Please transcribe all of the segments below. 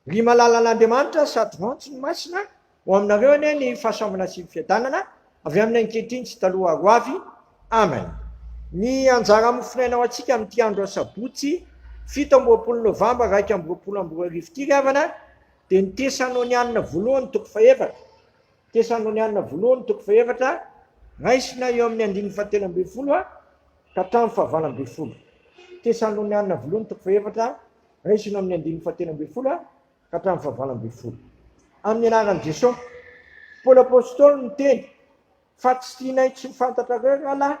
Ry malalan'Andriamanitra sady vantso ny masina, ho aminareo anie ny fahasoavana sy ny fiadanana, avy amin'ny ankehitriny sy taloha ary ho avy. Amen. Ny anjara mofonaina ho antsika amin'ity andro asabotsy fito amby roapolo novambra iraika amby roapolo amby roa arivo ity ry havana dia ny Tesanônianina voalohany toko fahefatra. Tesanônianina voalohany toko fahefatra, raisina eo amin'ny andininy fahatelo ambin'ny folo. ka hatramin'ny fahavalo ambin'ny folo Tesaloniana Voalohany toko fahefatra, raisina ao amin'ny andininy fahatelo ambin'ny folo ka hatramin'ny fahavalo ambin'ny folo. Amin'ny anaran'i Jesosy, Paoly Apostoly niteny fa tsy tianay tsy ho fantatrareo rahalahy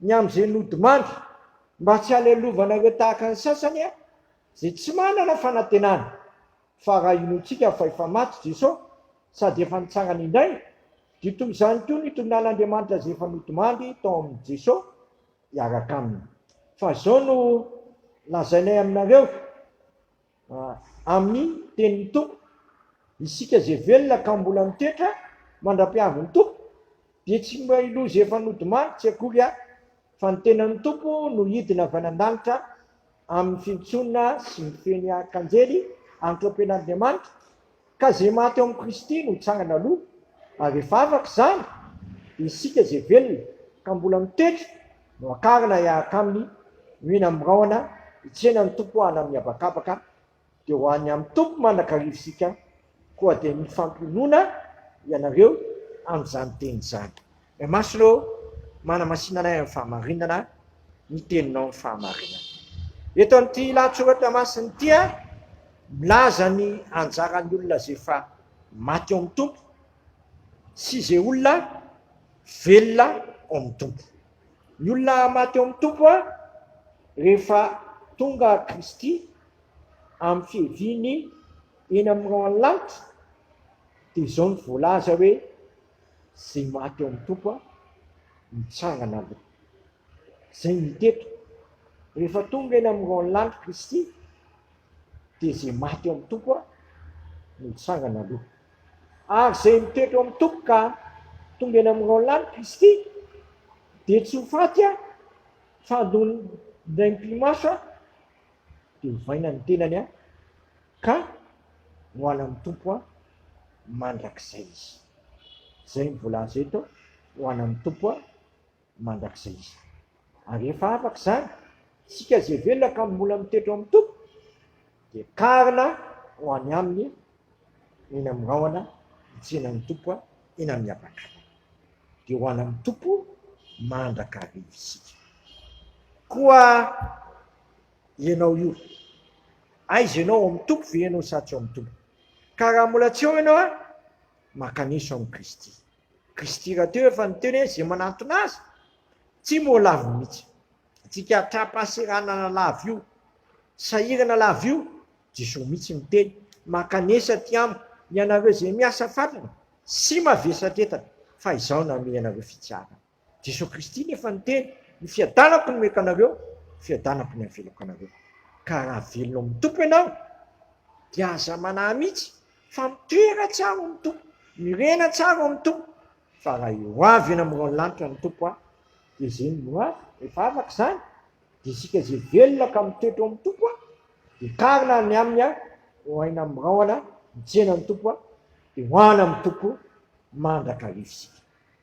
ny amin'izay nodimandry mba tsy halelovanareo tahaka ny sasany izay tsy manana fanantenana, fa raha inoantsika fa efa maty Jesosy sady efa nitsangana indray, Dia toy izany koa ny tononan'Andriamanitra izay efa nodimandry tao amin'i Jeso hiaraka aminy. Fa izao no lazainay aminareo, amin'ny tenin'ny Tompo, isika izay velona ka mbola mitoetra mandra-piavin'ny Tompo, dia tsy mba i loza efa nodimandry tsy akory aho, fa ny tenan'ny Tompo no hidina avy any an-danitra amin'ny fintsoina sy ny feny arkanjely antrompen'Andriamanitra, ka izay maty ao amin'i Kristy no hitsangana aloha, ary rehefa afaka izany, isika izay velona ka mbola mitoetra no hakarina hiaraka aminy, mihena mirahona, hitsena ny Tompo hanam-mihabakabaka dia ho any amin'ny Tompo mandrakariva isika, koa dia mifampionona ianareo amin'izany teny izany. Ray Masina ô, manamasina anay amin'ny fahamarinana ny Teninao amin'ny fahamarinana. Eto amin'ity lahatsoratra masina ity, milaza ny anjaran'ny olona izay efa maty ao amin'ny Tompo sy izay olona velona ao amin'ny Tompo. Ny olona maty ao amin'ny Tompo a, rehefa tonga Kristy amin'ny fiaviany eny amin'ny rahon'ny lanitra, dia izao no voalaza hoe, izay maty ao amin'ny Tompo a, mitsangana aloha. Izay no hita eto. Rehefa tonga eny amin'ny rahon'ny lanitra Kristy, dia izay maty ao amin'ny Tompo a, no mitsangana aloha. Ary izay mitoetra eo amin'ny Tompo ka tonga eny amin'ny Raolinan'i Kristy, dia tsy ho faty a, fa handona indray am-pimaso a, dia hovaina ny tenany a, ka ho any amin'ny Tompo a, mandrakizay izy. Izay ny voalaza eto, ho any amin'ny Tompo a. mandrakizay izany. Ary rehefa afaka izany, isika izay velona ka mbola mitoetra ao amin'ny Tompo, dia karina ho any Aminy eny amin'ny rahona hitsenan'ny Tompo eny amin'ny habakabaka. Dia ho any amin'ny Tompo mandrakariva isika. Koa ianao io, aiza ianao, ao amin'ny Tompo ve ianao sa tsy ao amin'ny Tompo? Ka raha mbola tsy ao ianao, maka an'iso amin'i Kristy. Kristy rahateo efa niteny hoe izay manantona Azy tsy moa lavo mihitsy. Antsika hatram-pahaseranana lavo io, sahirana lavo io, Jesoa mihitsy niteny, mankanesa aty amiko ianareo izay miasa fatratra sy mavesatra entana fa Izaho namehy anareo fitiavana. Jesoa Kristy nefa niteny, Ny fiadanako no meko anareo, ny fiadanako no avelako anareo. Ka raha velona ao amin'ny Tompo ianao, dia aza manahy mihitsy, fa mitoera tsara ao amin'ny Tompo, mirena tsara ao amin'ny Tompo, fa raha eo ho avy eny amin'ny rahon'ny lanitra ny Tompo aho, dia izay no ho avy, rehefa afaka izany, dia isika izay velona ka mitoetra ao amin'ny Tompo aho, dia karina any aminy aho, ho aina amin'ny rahona, mitsena ny Tompo aho, dia ho any amin'ny Tompo mandrakariva isika.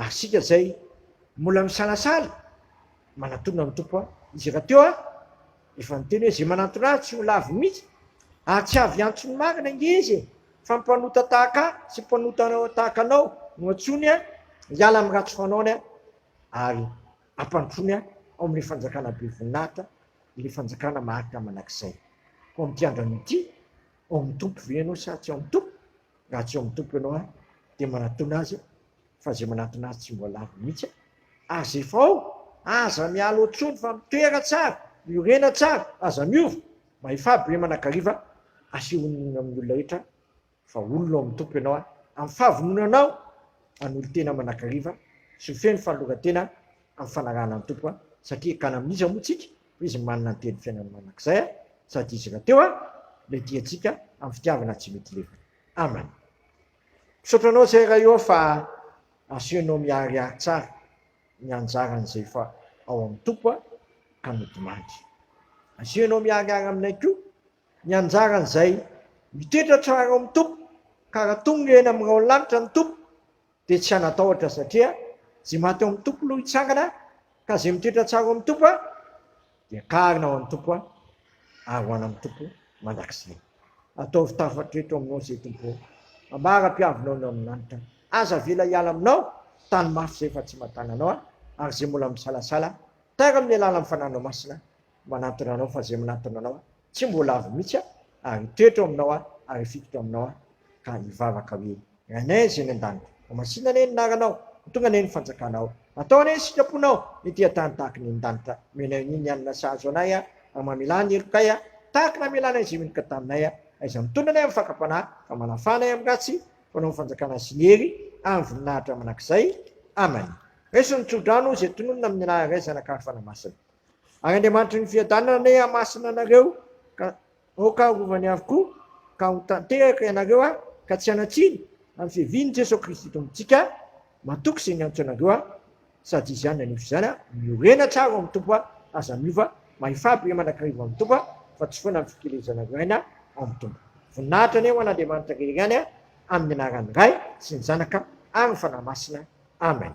Ary isika izay mbola misalasala, manatona ny Tompo an! Izy rahateo an! efa niteny hoe, izay manantona Ahy tsy ho lavo mihitsy, ary tsy avy antso ny marina ange izy e! fa mpanota tahaka Ahy sy mpanota tahaka anao no antsoiny an! hiala amin'ny ratsy fanaony an! ary hampandrosoany an! ao amin'ilay fanjakana be voninahitra, ilay fanjakana maharitra mandrakizay. Koa amin'ity andrana ity, ao amin'ny Tompo ve ianao sa tsy ao amin'ny Tompo? Raha tsy ao amin'ny Tompo ianao ary dia manatona Azy aho, fa izay manatona Azy tsy mbola lavo mihitsy aho. Aza efa ao, aza miala ao intsony fa mitoera tsara, miorena tsara, aza miova. Mahefà be manakariva, asehonina amin'ny olona rehetra fa olona ao amin'ny Tompo ianao ary amin'ny fahavononanao hanolo-tena manakariva sy ho feno fanoloran-tena amin'ny fanarahana ny Tompo, satria ekana amin'iza moa isika? Hoy izy, Manana ny tenin'ny fiainan'ny mandrakizay aho, sady izy rahateo aho, ilay diantsika amin'ny fitiavana tsy mety lefona. Amen. Misaotra anao izay Ray ô fa asehonao miharihary tsara ny anjaran'izay efa ao amin'ny Tompo ka nodimandry. Asehonao miharihary aminay koa ny anjaran'izay mitoetra tsara ao amin'ny Tompo ka raha tonga eny amin'ny rahon'ny lanitra ny Tompo Dia tsy hanatahotra satria izay maty ao amin'ny Tompo no hitsangana ka izay mitoetra tsara ao amin'ny Tompo dia kaharina ao amin'ny Tompo ary ho any amin'ny Tompo mandrakizay. Ataovy tafatro eto aminao izay Tompo ô. Ambara mpiavinao ny ao amin'ny lanitra. Aza avela hiala aminao tany mafy izay fa tsy mahatana anao ary izay mbola misalasala, tara amin'ny alalan'ny Fananao Masina manantona anao fa izay manantona anao tsy mbola avy mihitsy aho ary hitoetra ao aminao aho ary hifikitra ao aminao aho ka hivavaka hoe rainay izay ny an-danitra mamasina anie ny naranao mitonga anie ny fanjakanao atao anie ny sitraponao ny tia tany tahaka ny an-danitra menay ny ny anina sahazo anay aho ary mamelà ny helokay aho tahaka namelanay izay meloka taminay aho aiza mitondra anay amin'ny fakam-panahy fa manafà anay amin'ny ratsy fanao ny fanjakana sy ny hery ary ny voninahitra manakizay amany raiso ny tsodrano izay tononina amin'ny anaran'ilay zanak'arifana masina Ary Andriamanitry ny fiadanana anie hamasina anareo ka aoka harovany avokoa ka ho tanteraka ianareo aho ka tsy hanatsiny amin'ny fiavian'i Jesoa Kristy Tompontsika matoky izay niantso anareo aho sady izy ihany nanefy izany aho miorena tsara ao amin'ny Tompo aho aza miova mahefà be manakariva ao amin'ny Tompo aho fa tsy foana ny fikelezanareo aina ao amin'ny Tompo voninahitra anie ho an'Andriamanitra rery ihany aho amin'ny anaran'ny Ray sy ny Zanaka ary ny Fanahy Masina Amen